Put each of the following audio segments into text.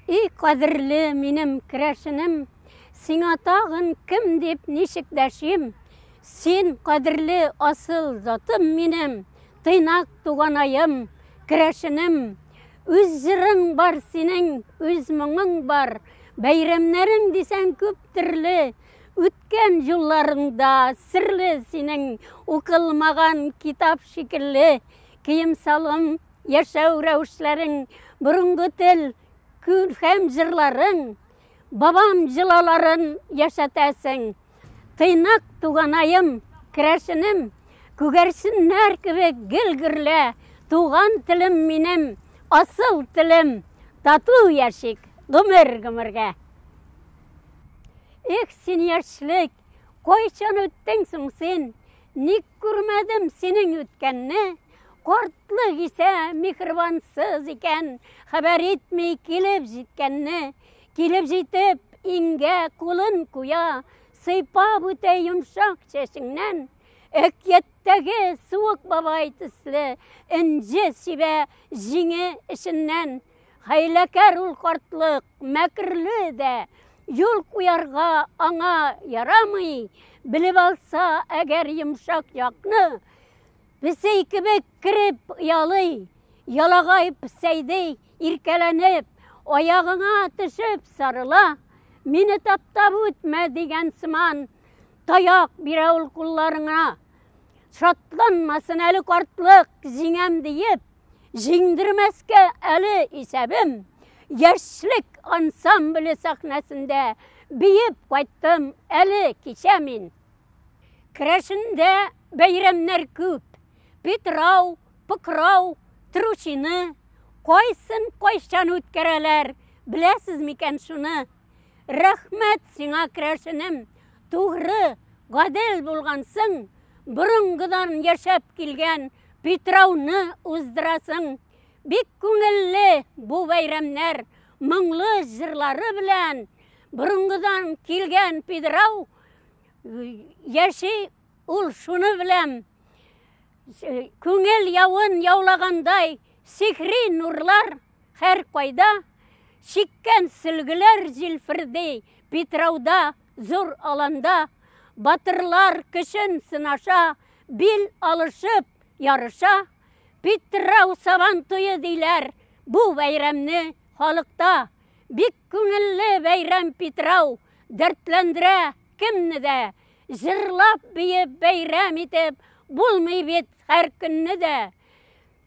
И кадерле минем керәшенем, сиңа тагын кем дип ничек дәшим? Син кадерле асыл затым минем, тыйнак туганаем, керәшенем. Үз җырың бар синең, үз моңың бар, бәйрәмнәрең дисәң күп төрле. Үткән юлларыңда серле синең, укылмаган китап шикелле, кием салым Яшәү рәвешләрең, борынгы тел, күркәм җырларың, бабам җылаларын яшәтәсең. Тыйнак туганаем, керәшенем, күгәрченнәр кебек гел гөрлә, туган телем минем, асыл телем, тату яшик гомер-гомергә. Эх, син яшьлек, кайчан үттең соң син, ник Күрмәдем синең үткәнне, Кортлык исә михрибансыз икән, Хәбәр итми килеп җиткәнне, Килеп җитеп, иңгә кулын куя, Сыйпап үтә йомшак чәчеңнән. Әкияттәге суык бабай төсле, Энҗе сибә җиңе эченнән. Хәйләкәр ул картлык, мәкерле дә, юл куярга аңа ярамый, белеп алса, әгәр йомшак якны, песей кебек кереп ялый, ялагай песәйди, иркәләнеп, аягыңа төшеп сарыла, мине таптап үтмә дигән сыман, таяк бирә ул кулларыңа. Шатланмасын әле картлык, җиңәм диеп, Җиңдермәскә әле исәбем, яшьлек ансамбле сәхнәсендә биеп кайттым әле кичә мин. Керәшендә бәйрәмнәр күп. Питрау, Пыкрау, Тручины, кайсын кайчан үткәрәләр, беләсез микән шуны? Рәхмәт сиңа, керәшенем, тугры, гадел булгансың, борынгыдан яшәп килгән Питрауны уздырасың. Бик күңелле бу бәйрәмнәр, моңлы җырлары белән борынгыдан килгән Питрау яши ул шуны беләм. Күңел явын яулагандай сихри нурлар һәр кайда, чиккән сөлгеләр җилферди Питрауда Зур аланда батырлар көчен сынаша, бил алышып ярыша. Питрау сабан туе диләр бу бәйрәмне халыкта. Бик күңелле бәйрәм Питрау, дәртләндерә кемне дә. Җырлап-биеп бәйрәм итеп булмый бит һәр көнне дә.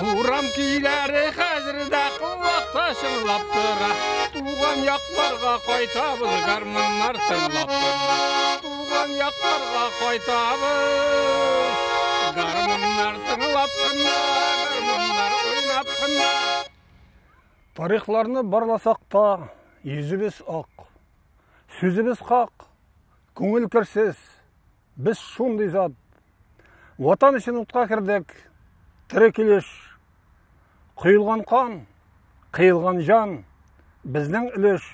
Урам көйләре хәзер дә колакта чыңлап тора. Туган якларга кайтабыз гармуннар тыңлап тора. Туган якларга кайтабыз. Гармуннар тыңлап кына, гармуннар уйнап кына. Тарихларны барласак та, йөзебез ак. Сүзебез хак, күңел керсез, Без шундый зат. Ватан өчен утка кердек. Тере килеш. Коелган кан, кыелган җан. Безнең өлеш.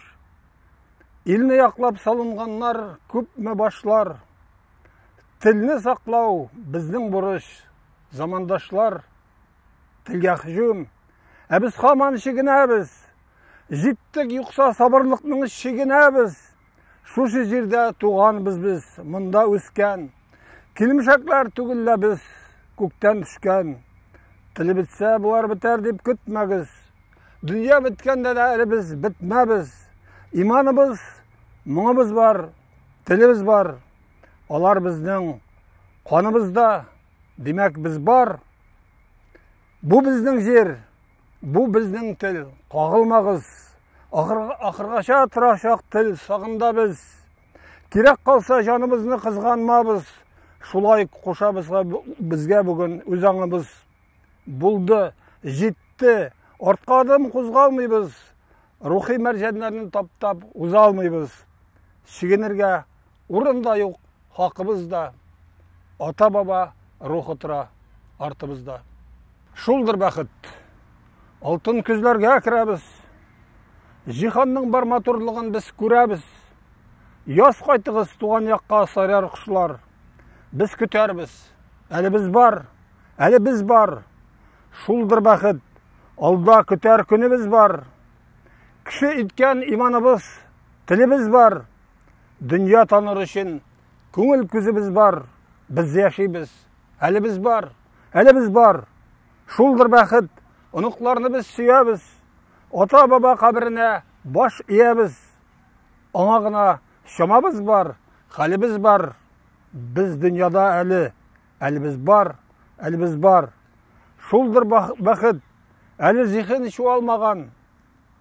Илне яклап салынганнар күпме башлар. Телне саклау безнең бурыч. Замандашлар телгә һөҗүм. Ә без хаман чигенәбез. Җиттек юкса сабырлыкның чигенәбез. Шушы җирдә туганбыз без, монда үскән. Килмешәкләр түгел лә без, күктән төшкән. Теле бетсә, болар бетәр дип көтмәгез. Дөнья беткәндә дә әле без бетмәбез. Иманыбыз, моңыбыз бар, телебез бар. Алар безнең каныбызда, димәк, без бар. Бу безнең җир. Бу безнең тел, кагылмагыз. Ахыргача торачак тел сагында без. Кирәк калса җаныбызны кызганмабыз. Шулай кушабыз безгә бүген үз аңыбыз. Булды, җитте, артка адым кузгалмыйбыз. Рухи мәрҗәннәрне таптап уза алмыйбыз. Чигенергә Урын да юк, хакыбыз да, ата-баба рухы тора артыбызда. Шулдыр бәхет. Алтын көзләргә керәбез. Җиһанның бар матурлыгын без күрәбез. Яз кайтыгыз туган якка сайрар кошлар. Без көтәрбез. Әле без бар, әле без бар. Шулдыр бәхет. Алда көтәр көнебез бар. Кеше иткән иманыбыз, телебез бар. дөнья таныр өчен күңел күзебез бар, без яшибез. Әле без бар, әле без бар. Шулдыр бәхет, оныкларны без сөябез. Ата-баба каберенә баш иябез. Аңа гына чамабыз бар, хәлебез бар. Без дөньяда әле, әле без бар, әле без бар. Шулдыр бәхет, әле зиһен чуалмаган.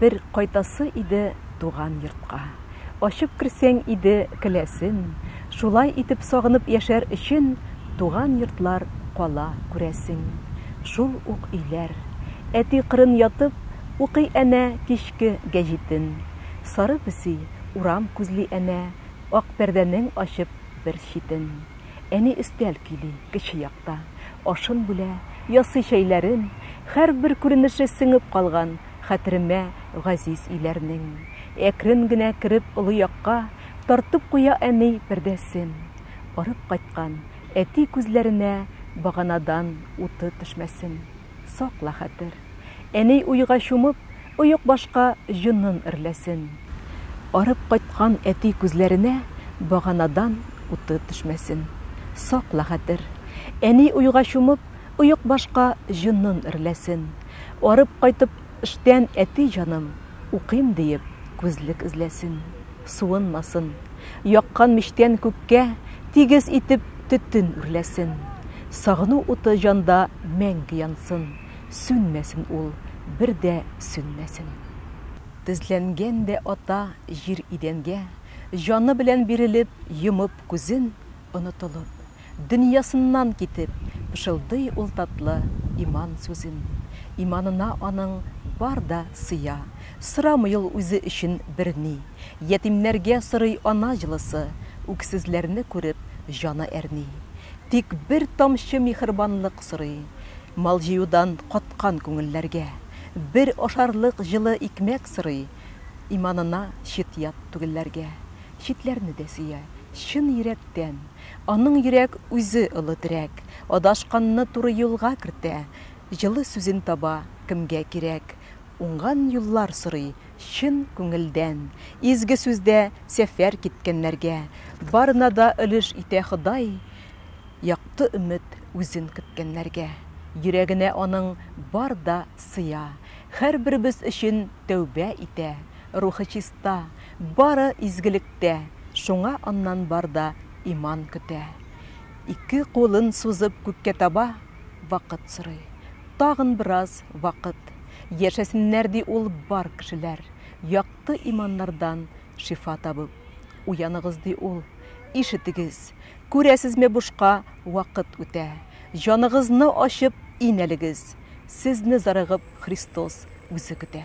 Бер кайтасы иде туган йортка. Ачып керсәң иде келәсен, Шулай итеп сагынып яшәр өчен Туган йортлар кала күрәсең. Шул ук өйләр. Әти кырын ятып, Укый әнә кичке гәҗитен. Сары песи урам күзли әнә, Ак пәрдәнең ачып бер читен. Әни өстәл көйли, кече якта, ашын бүлә, ясый чәйләрен, һәрбер күренеше сеңеп калган хәтеремә газиз өйләрнең. Әкрен генә кереп олы якка, тартып куя әни пәрдәсен. Арып кайткан әти күзләренә баганадан уты төшмәсен. сакла хәтер. Әни уйга чумып, оекбашка җонын эрләсен. Арып кайткан әти күзләренә баганадан уты төшмәсен. Сакла хәтер. Әни уйга чумып, оекбашка җонын эрләсен. Арып кайтып, Эштән әти җаным, укыйм диеп, күзлек эзләсен, суынмасын, яккан мичтән күккә тигез итеп төтен үрләсен, сагыну уты җанда мәңге янсын, сүнмәсен ул, бер дә сүнмәсен. Тезләнгән дә ата җир идәнгә, җаны белән бирелеп, йомып күзен, онытылып. Дөньясыннан китеп, пышылдый ул татлы иман сүзен. Иманына аның бар да сыя, сорамый ул үзе өчен берни. Ятимнәргә сорый ана җылысы, үксезләрне күреп, җаны әрни. Тик бер тамчы михербанлык сорый, мал җыюдан каткан күңелләргә. Бер ашарлык җылы икмәк сорый, иманына чит-ят түгелләргә. Читләрне дә сөя, чын йөрәктән. Аның йөрәк үзе олы терәк, Адашканны туры юлга кертә, Җылы сүзен таба, кемгә кирәк, Уңган юллар сорый, чын күңелдән. Изге сүздә сәфәр киткәннәргә, Барына да өлеш итә Ходай, Якты өмет үзен көткәннәргә, Йөрәгенә аның бар да сыя. Һәрберебез өчен тәүбә итә. Рухы чиста, бары изгелектә, Шуңа аннан бар да иман көтә. Ике кулын сузып күккә таба, Вакыт сорый, тагын бераз вакыт. Яшәсеннәр, ди ул бар кешеләр, Якты иманнардан шифа табып. Уяныгыз, ди ул, ишетегез, Күрәсезме, бушка вакыт үтә. Җаныгызны ачып, инәлегез, Сезне зарыгып Христос үзе көтә.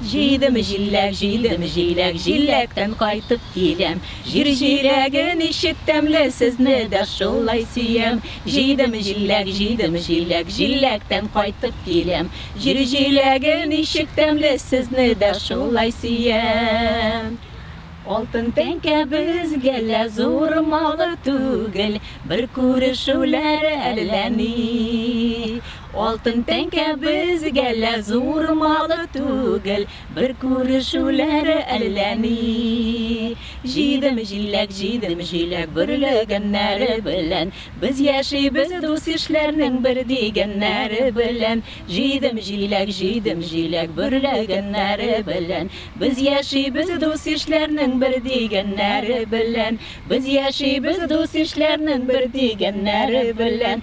Җыйдым җиләк, җыйдым җиләк, Җиләктән кайтып киләм. Җир җиләге ничек тәмле, Сезне дә шулай сөям. Җыйдым җиләк, җыйдым җиләк, Җиләктән кайтып киләм. Җир җиләге ничек тәмле, Сезне дә шулай сөям. Алтын тәңкә безгә лә Зур малы түгел, Бер күрешүләр әллә ни. Алтын тәңкә безгә лә зур малы түгел, Бер күрешүләре әллә ни. Җидем җиләк, җидем җиләк бөрлегәннәре белән, Без яшибез дус-ишләрнең бер дигәннәре белән. Җидем җиләк, җидем җиләк бөрлегәннәре белән, Без яшибез дус-ишләрнең бер дигәннәре белән. Без яшибез дус-ишләрнең бер дигәннәре белән.